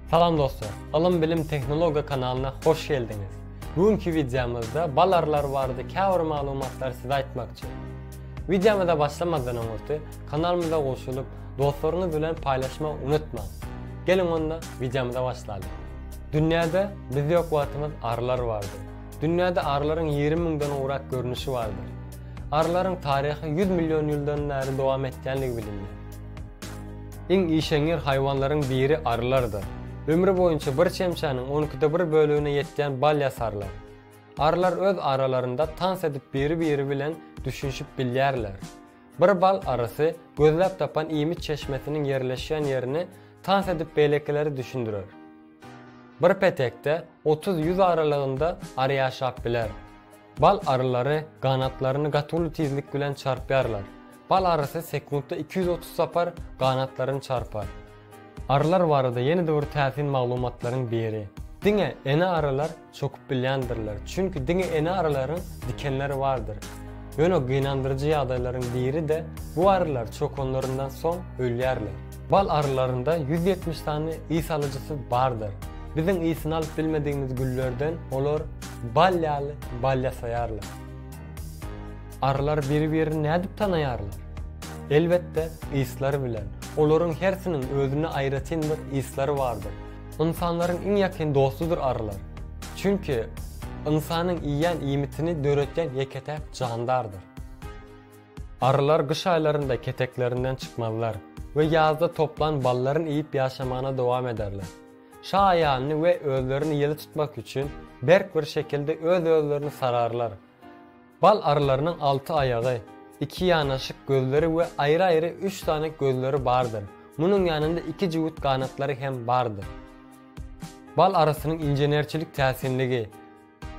Salam dostlar! Ylym Bilim Tehnologiýa kanalyna hoş geldiňiz. Bu günki wideomyzda balarlar barada käbir maglumatlary size aýtmakçy. Wideomyza başlamazdan öňürti kanalymyza goşulyp, dostlaryňyz bilen paýlaşmak unutmaň. Geliň onda wideomyza başlalyň. Dünýäde biz ýok wagtymyz arylar bardy. Dünýäde arylaryň ýigrimi müňden gowrak görnüşi bardyr. Arylaryň taryhy ýüz million ýyldan bäri dowam etýändigi bilindi. Iň işeňňir haýwanlaryň biri arylardyr. Ömri boýunça bir çemçäniň on ikide bir bölegine ýetýän bal ýasarlar. Arylar öz aralarynda tans edip biri-biri bilen düşünişip bilýärler. Bir bal arysy gözläp tapan iýmit çeşmesiniň ýerleşýän ýerini tans edip beýlekileri düşündirer. Bir petekde otuz-ýüz aralygynda ary ýaşap biler. Bal arylary ganatlaryny gaty uly tizlik bilen çarpýarlar. Bal arysy sekuntda iki ýüz otuz sapar ganatlaryny çarpar. Arylar barada ýene-de bir täsin maglumatlaryň biri. Diňe ene arylar çokup bilýändirler, çünki diňe ene arylaryň dikenleri bardyr. Ýöne gynandyryjy ýagdaýlaryň biri-de, bu arylar çokanlaryndan soň ölýärler. Bal arylarynda ýüz ýetmiş sany ys alyjysy bardyr. Biziň ysyny alyp bilmedigimiz güllerden olar bal ýaly bal ýasaýarlar. Arylar biri-birini nädip tanaýarlar? Elbetde, yslary bilen. Olaryň hersiniň özüne aýratyn bir yslary bardyr. Ynsanlaryň iň ýakyn dostudyr arylar. Çünki ynsanyň iýýän iýmitini döretýän ýeke-täk jandardyr. Arrylar gyş aýlarynda keteklerinden çykmazlar we ýazda toplan ballaryny iýip ýaşamagyna dowam ederler. Şa aýalyny we özlerini ýyly tutmak üçin berk bir şekilde öz-özlerini sararlar. Bal arrylarynyň alty aýagy, iki ýanaşyk gözleri we aýry-aýry üç sany gözleri bardyr, munuň ýanynda iki jübüt ganatlary hem bardyr. Bal arrysynyň inženerçilik täsinligi.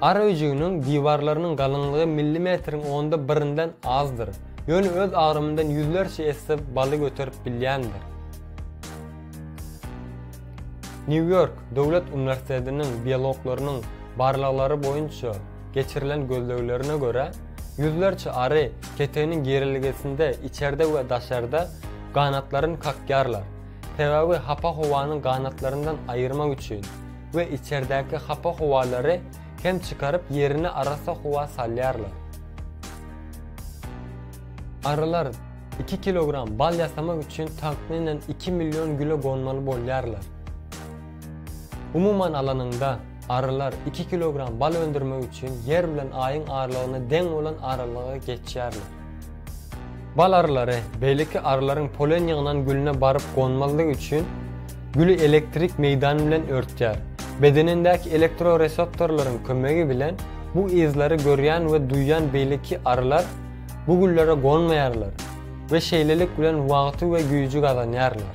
Ar öýjüginiň diwarlarynyň galyňlygy millimetriň onda birinden azdyr, ýöne öz agramyndan ýüzlerçe esse baly göterip bilýändir. Nýu-Ýork döwlet uniwersitetiniň biologlarynyň barlaglary boýunça geçirilen gözleglerine görä, ýüzlerçe ary keteginiň girelgesinde içerde we daşarda ganatlaryny kakýarlar, sebäbi hapa howanyň ganatlaryndan aýyrmak üçin. we içerdäki hapa howalary hem çykaryp ýerine arassa howa salýarlar. Arylar iki kilogram bal ýasamak üçin takmynan iki million güle gonmaly bolýarlar. Umuman alanyňda, arylar iki kilogram bal öndürmek üçin ýer bilen aýyň aralygyna deň bolan aralygy geçýärler. Bal arylary, beýleki arylaryň polen ýygnan gülüne baryp gonmazlygy üçin, güli elektrik meýdany bilen örtýär. Bedenindäki elektroreseptorlaryň kömegi bilen bu yzlary görýän we duýýan beýleki arylar bu güllere gonmaýarlar we şeýlelik bilen wagty we güýji gazanýarlar.